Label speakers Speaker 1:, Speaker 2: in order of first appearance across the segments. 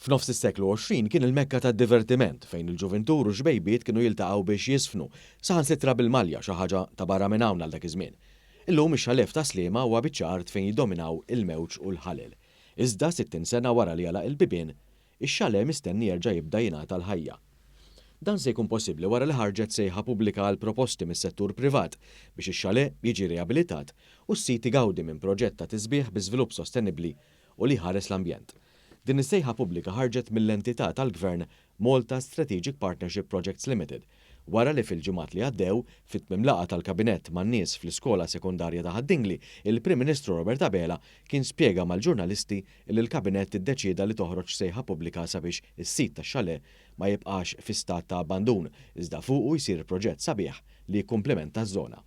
Speaker 1: F'nofs is-seklu 20 kien il-mekka tad-divertiment fejn il-ġuvintur u x-xbejbiet kienu jiltaqgħu biex jiżfnu, saħansitra bil-malja, xi ħaġa ta' barra minn hawn għal dak iż-żmien. Illum ix-xalef ta' Sliema huwa biċċa art fejn jiddominaw il-mewġ u l-ħalel. Iżda sittin sena wara li għalaq il-bibien, Ix-Xalè mistenni jerġa' jibda jingħata l-ħajja. Dan se jkun possibbli wara li ħarġet sejħa pubblika għal proposti mis-settur privat biex ix-Xalè jiġi riabilitat u s-sit igawdi minn proġett ta' tisbiħ bi żvilupp sostenibbli u li jħares l-ambjent. Din is-sejħa pubblika ħarġet mill-entità tal-Gvern Malta Strategic Partnership Projects Limited, wara li fil-ġimgħat li għaddew, fi tmiem laqgħa tal-Kabinett man-nies fl-Iskola Sekondarja ta' Ħad-Dingli, il-Prim Ministru Robert Abela kien spjega mal-ġurnalisti li l-Kabinett iddeċieda li toħroġ sejħa pubblika sabiex is-sit tax-xalè ma jibqax fi stat ta' abbandun iżda fuqu jsir proġett sabiħ li jikkumplimenta ż-żona.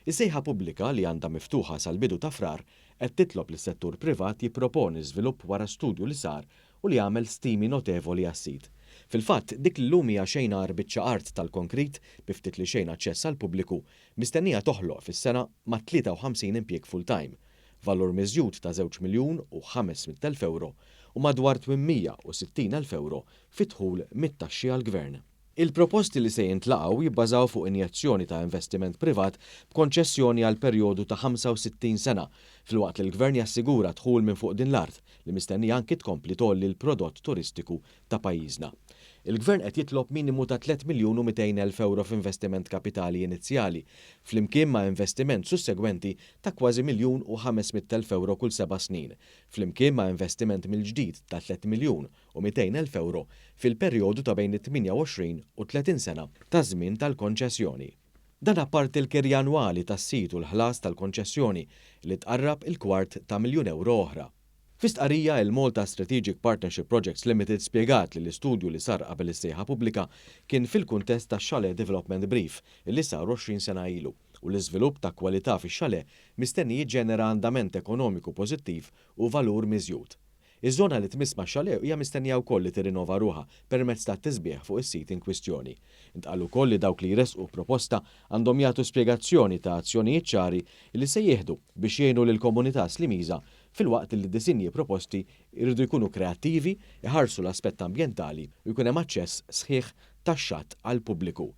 Speaker 1: Is-sejħa pubblika, li għandha miftuħa sal-bidu ta' Frar, qed titlob lis-settur privat jipproponi żvilupp wara studju li sar u li għamel stimi notevoli għas-sit. Fil-fatt, dik li llum hija xejn agħar biċċa art tal-konkrit bi ftit li xejn aċċess għall-pubbliku, mistennija toħloq fis-sena mat-53 impjieg full-time, valur miżjud ta' żewġ miljun u ħames mitt elf ewro u madwar twin mija u sittin elf ewro fi dħul mit-taxxi għall-Gvern. Il-proposti li se jintlaqgħu jibbażaw fuq injezzjoni ta' investiment privat b'konċessjoni għal perjodu ta' 65 sena, filwaqt li l-Gvern jassigura dħul minn fuq din l-art li mistennija anki tkompli tgħolli l-prodott turistiku ta' pajjiżna. Il-Gvern qed jitlob minimu ta' tliet miljun u mitejn elf ewro f'investiment kapitali inizjali, flimkien ma' investiment sussegwenti ta' kważi miljun u ħames mitt elf ewro kull seba' snin, flimkien ma' investiment mill-ġdid ta' tliet miljun u 200 elf ewro fil-perjodu ta' bejn it-28 u t-30 sena taż-żmien tal-konċessjoni. Dan apparti l-kirja annwali tas-sit u l-ħlas tal-konċessjoni li tqarrab il-kwart ta' miljun ewro oħra. Fi stqarrija, il-Malta Strategic Partnership Projects Limited spjegat li l-istudju li sar qabel is-sejħa pubblika kien fil-kuntest tax-Chalet Development Brief li sar 20 sena ilu u l-iżvilupp ta' kwalità fix-chalet mistenni jiġġenera andament ekonomiku pożittiv u valur miżjud Iż-żona li tmiss max-xalet hija mistennija wkoll li tirrinova ruħha permezz tat-tisbiħ fuq is-sit inkwistjoni. Intqal ukoll li dawk li jressqu proposta għandhom jagħtu spjegazzjoni ta' azzjonijiet ċari li se jieħdu biex jgħinu lill-komunità Slimiża filwaqt li d-disinji proposti jridu jkunu kreattivi, iħarsu l-aspett ambjentali u jkun hemm aċċess sħiħ tax-xatt għall-pubbliku.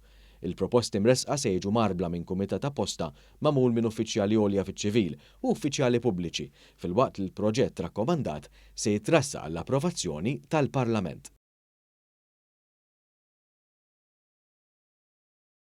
Speaker 1: Il-proposti mressqa se jiġu mgħarbla minn kumitat apposta magħmul minn uffiċjali għolja fiċ-ċivil u uffiċjali pubbliċi, filwaqt li l-proġett rakkomandat se jitressaq għall-approvazzjoni tal-Parlament.